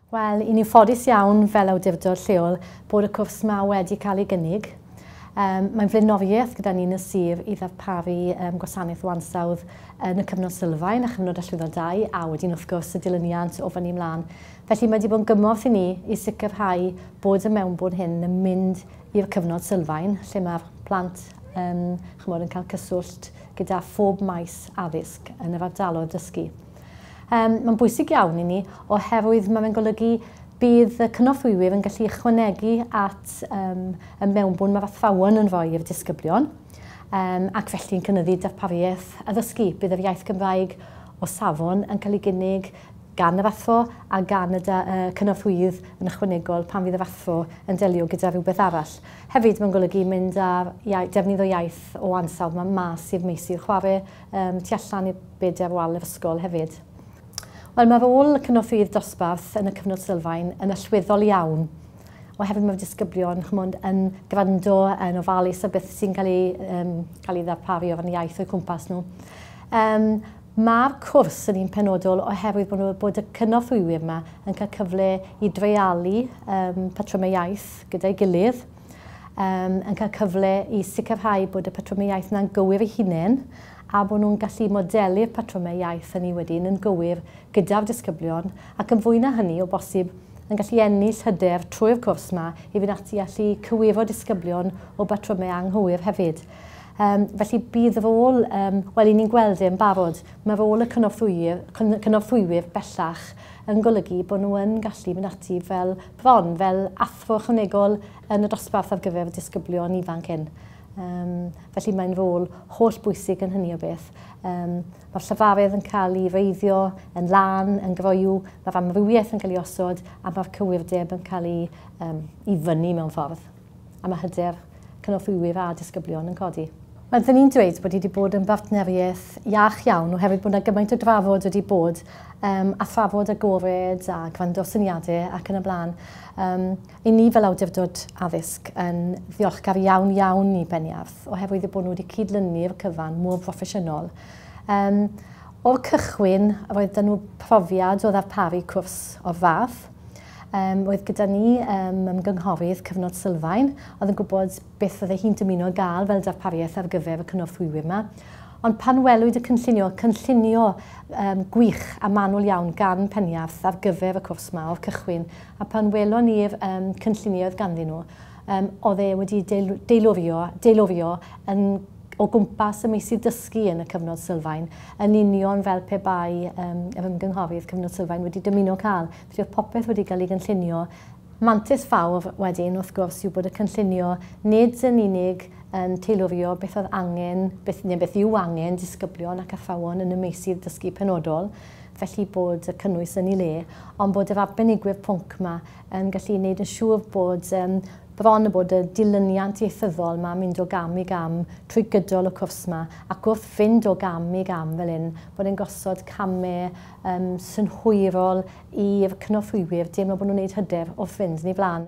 Wel, i ni'n ffodus iawn fel awdurdod lleol bod y cwrs yma wedi cael ei gynnig. Um, mae'n flaenoriaeth gyda ni'n y sir i ddarparu um, gwasanaeth o ansawdd yn y cyfnod sylfaen a chyfnod allwyddo dau a wedyn wrth gwrs y dilyniant o fyny ymlaen. Felly, mae wedi bod yn gymorth i ni i sicrhau bod y mewnbwn hyn yn mynd i'r cyfnod sylfaen, lle mae'r plant yn, chymod, yn cael cyswllt gyda phob maes addysg yn yr ardaloedd dysgu. Um, mae'n bwysig iawn i ni oherwydd mae'n golygu bydd y cynorthwywyr yn gallu ychwanegu at um, y mewnbwn mae'r athrawon yn rhoi i'r disgyblion um, ac felly yn cynyddu darpariaeth addysgu. Bydd yr iaith Gymraeg o safon yn cael ei gynnig, gan y fathfo a gan y cynorthwyydd yn ychwanegol pan fydd y fathfo yn delio gyda rhywbeth arall. Hefyd, mae'n golygu mynd â defnydd o iaith o ansawdd yma mas i'r meysydd chwarae, um, tu allan i'r byd ar wal yr ysgol hefyd. Wel, mae rôl y cynorthwyydd dosbarth yn y cyfnod sylfaen yn allweddol iawn oherwydd mae'r disgyblion chymod, yn gwrando yn ofalus o beth sy'n cael ei, um, cael ei ddarparu o ran iaith o'i cwmpas nhw. Um, Mae'r cwrs yn un penodol oherwydd bod nhw, bod y cynorthwywyr yma yn cael cyfle i dreialu um, patrymau iaith gyda'i gilydd, um, yn cael cyfle i sicrhau bod y patrymau iaith yna'n gywir ei hunain a bod nhw'n gallu modelu'r patrymau iaith hynny wedyn yn gywir gyda'r disgyblion ac yn fwy na hynny o bosib yn gallu ennill hyder trwy'r cwrs yma i fynd ati allu cywiro disgyblion o batrymau anghywir hefyd. Um, felly bydd rôl, um, wel i ni'n gweld e'n barod, mae rôl y cynorthwywyr, cynorthwywyr bellach yn golygu bod nhw yn gallu mynd ati fel bron, fel athro chynegol yn y dosbarth ar gyfer y disgyblion ifanc hyn. Um, felly mae'n rôl holl bwysig yn hynny o beth. Um, Mae'r llyfarydd yn cael ei reiddio yn lan, yn groiw, mae'r amrywiaeth yn cael ei osod a mae'r cywirdeb yn cael ei, um, i fyny mewn ffordd. a mae hyder cynorthwywyr a disgyblion yn codi. Rydyn ni'n dweud bod hi wedi bod yn bartneriaeth iach iawn oherwydd bod yna gymaint o drafod wedi bod um, a thrafod agored a gwrando syniadau ac yn y blaen. Um, I ni fel awdurdod addysg yn ddiolchgar iawn iawn i Beniarth oherwydd y bod nhw wedi cydlynu'r cyfan mor broffesiynol. Um, o'r cychwyn roedd dyn nhw profiad o ddarparu cwrs o'r fath Um, oedd gyda ni um, ymgynghorydd cyfnod sylfaen, oedd yn gwybod beth fydde hi'n dymuno gael fel darpariaeth ar gyfer y cynorthwywyr yma. Ond pan welwyd y cynllunio, cynllunio um, gwych a manwl iawn gan Penniarth ar gyfer y cwrs yma o'r cychwyn, a pan welon ni'r um, cynllunio oedd ganddyn nhw, um, oedd e wedi deilurio, deilurio yn o gwmpas y meysydd dysgu yn y cyfnod sylfaen, yn union fel pe bai um, yr ymgynghorydd cyfnod sylfaen wedi dymuno cael Felly oedd popeth wedi cael ei gynllunio. Mantais fawr wedyn, wrth gwrs, yw bod y cynllunio nid yn unig yn teilurio beth oedd angen, beth, neu beth yw angen disgyblion ac athrawon yn y meysydd dysgu penodol, felly bod y cynnwys yn ei le, ond bod yr arbenigwyr pwnc yma yn gallu gwneud yn siŵr bod um, bron y bod y dilyniant ieithyddol yma mynd o gam i gam trwy gydol y cwrs yma, ac wrth fynd o gam i gam fel hyn, bod e'n gosod camau yn synhwyrol i'r cynorthwywyr deimlo bod nhw'n gwneud hyder wrth fynd yn ei flaen.